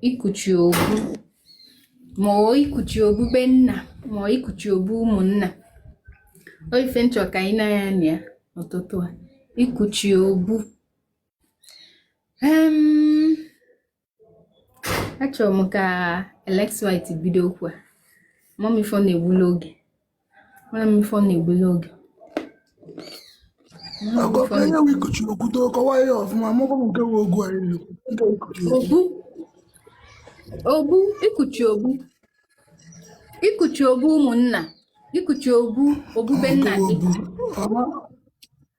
ikuchi obu ma ọ ikuchi obu be nna ma ọ ikuchi obu ụmụnna ọ ife m chọ ka anyị nee anya na ya n'ụtụtụ a ikuchi obu achọrọ m ka Alex White bido okwu a amarọ m ife ọ na-egbulu oge Mana m ife ọ na-egbulu oge. Onye nwe ikuchi obu too kọwaa ya ọfụma mụkwa m nke bụ obu anyị na-ekwu nke ikuchi obu. Obu obu ikuchi obu ikuchi obu ụmụnna ikuchi obu obu be nna gị. Obu. Ọma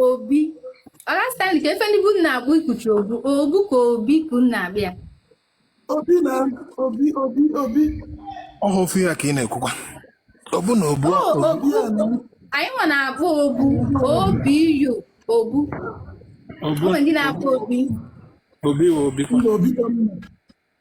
obi Oga Stanley kee ife ndị be unu na-akpọ ikuchi obu obu ka obi ka unu na-akpọ ya obi na obi obi obi ọ bụ ofu ihe ka ị na-ekwukwa obu na obu O, obu anyị nwa na-akpọ obu obi yo obu obu o nwe ndị na-akpọ obi obi wa obi kwa ndị obi ka mma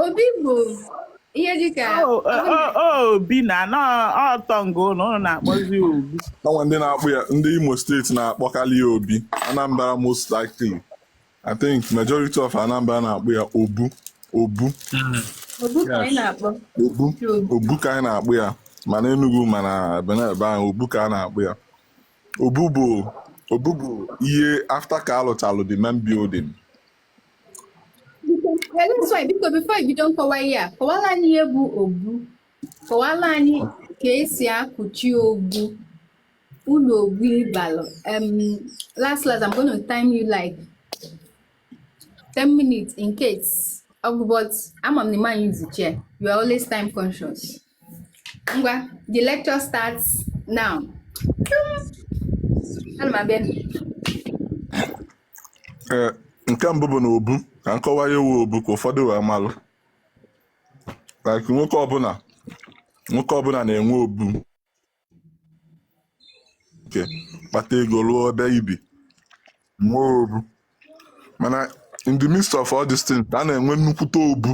obi bụ ihe dịka oh, oh, oh, obi na ọtọ nga unu unu na-akpọzi obi o nwe ndị na-akpọ ya ndị Imo State na-akpọkarị ya obi anambra most likely i think majority of anambra na-akpọ ya obu obu obu ka anyị na-akpọ ya ma na enugu ma na ebe nine obu ka a na-akpọ ya obu bụ obu bụ ihe after ka a lụchalụ the main building biko before i bido nkọwa ihe a kọwalụ anyị ihe bụ obu kọwalụ anyị ka e si ekuchi obu ulu obu balụ last last I'm going to time you like 10 minutes in case ọgụ but ama m na ịma anyị zuche you are always time conscious ngwa the lecture starts now ana m abịa Ee, nke mbụ bụ na obu ka m kọwaa ihe wụ obu ka ụfọdụ wee malụ like nwoke ọbụla nwoke ọbụla na-enwe obu nke kpata ego lụọ ebe i bi nwee obu mana in the midst of all these things a na-enwe nnukwute obu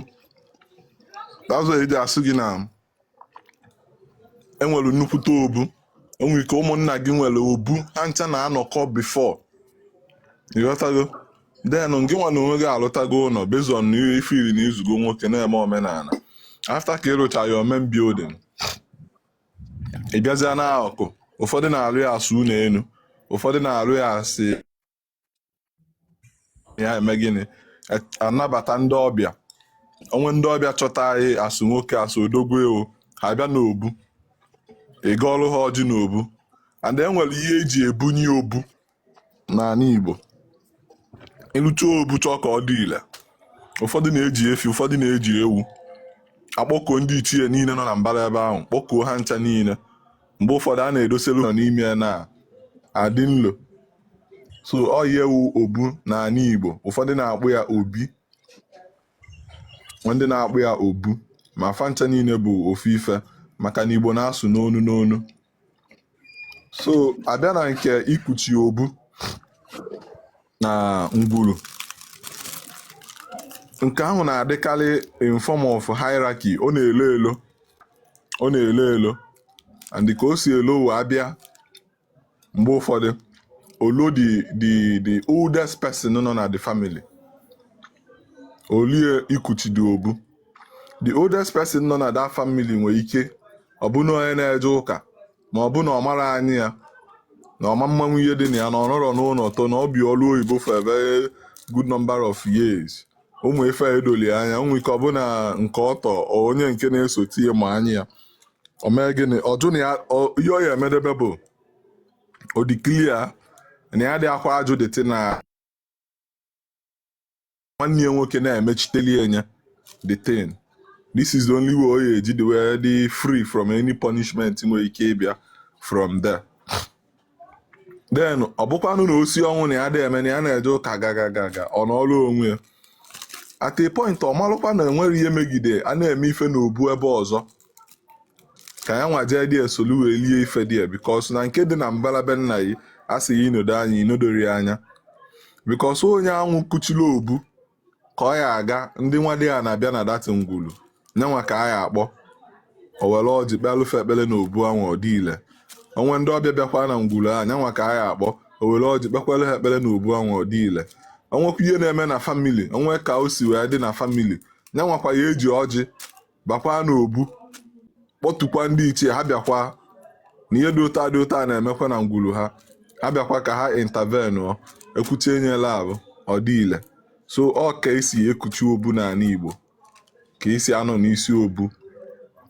that's why e ji asị gị na enwere nnukwute obu o nwe ike ụmụnna gị nwere obu ha ncha na-anọkọ before ị ghọtago then gị nwa na onwe gị alụtago ụlọ based on ihe ife iri na i zugo nwoke na-eme omenala after ka ị rụcha your main building ị bịazịa n'akụkụ ụfọdụ na-arụ ya as ụlọ elu ụfọdụ na-arụ ya as ya eme gịnị anabata ndị ọbịa o nwee ndị ọbịa chọta anyị as nwoke as odogwu ewu ha bịa n'obu ị gọọrọ ha ọjị n'obu and e nwere ihe eji ebunye obu n'ala Igbo ị lụcha obu chọọ ka ọ dị ile ụfọdụ na-eji efi ụfọdụ na-eji ewu akpọkuo ndị ichie niile nọ na mbara ebe ahụ kpọkuo ha ncha niile mgbe ụfọdụ a na-edoselu nọ n'ime ya na adị nlo so ọ ihe wụ obu n'ala Igbo ụfọdụ na-akpọ ya obi ndị na-akpọ ya obu ma fa ncha niile bụ ofu ife maka na Igbo na-asụ n'onu n'onu so a bịa na nke ikuchi obu na ngwuru nke ahụ na-adịkarị in form of hierarchy ọ na-elo elo ọ na-elo elo and ka o si elo wee abịa mgbe ụfọdụ o lu the the the oldest person nọ na the family o lue ikuchi the obu the oldest person nọ na that family nwere ike ọ bụ na onye na-eje ụka ma ọ bụ na ọ marọ anya ya na ọ ma amanwu ihe dị na ya na ọ nọrọ n'ụnọ tọ na o bi ọlụ oyibo for a very good number of years ụmụ ife a edorọ ya anya o nwee ike ọ bụ na nke ọ tọ onye nke na-esote ya ma anya ya o mee gịnị ọ jụ na ya ọ- ihe ọ ya emedebe bụ o declare na ya adị akwa ajụ dịtị na nwanne ya nwoke na-emechiteli ya the thing this is the only way o ya eji dị wee dị free from any punishment nwere ike ịbịa from there then ọ bụkwanụ na o si ọnwụ na ya adị eme na ya na-eje ụka gagagaga ọ nọrọ onwe ya at a point ọ malụkwa na enwere ihe megide a na-eme ife na obu ebe ọzọ ka ya nwa jee there solu wee lie ife there because na nke dị na mbara be nna ya a sị ya inodo anya inodori ya anya because onye anwụ kuchiri obu ka ọ ya aga ndị nwadiana bịa na that ngwulu nya nwa ka a ya akpọ o were ọjị kpeelụ fa ekpele na obu anwa ọ dị ile o nwee ndị ọbịa bịakwa na ngwulu a nya nwa ka a ya akpọ o were ọjị kpekwaalụ fa ekpele na obu anwa ọ dị ile o nwekwaa ihe na-eme na family o nwee ka o si wee dị na family nya nwakwa ya eji ọjị bakwa n'obu kpọtukwa ndị ichie ha bịakwa na ihe dị otu a dị otu a na-emekwa na ngwuru ha ha bịakwa ka ha intervene ọ ekwuchi enyela ahụ ọ dị ile so ọ ka esi ekuchi obu n'ala Igbo ka esi anọ n'isi obu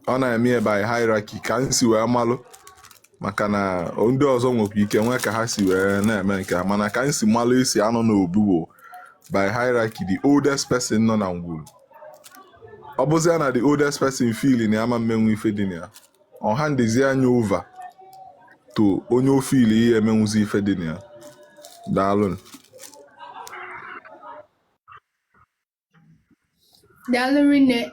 a na-eme ya by hierarchy ka m si wee malụ maka na ndị ọzọ nwekwa ike nwee ka ha si wee na-eme nke ha mana ka m si malụ esi anọ n'obu bụ by hierarchy the oldest person nọ na ngwuru ọ bụzia na the oldest person feel na ya ama mmenwu ife dị na ya ọ handizia nya over to onye o feel ya emenwuzi ife dị na ya daalụ daalụ rinne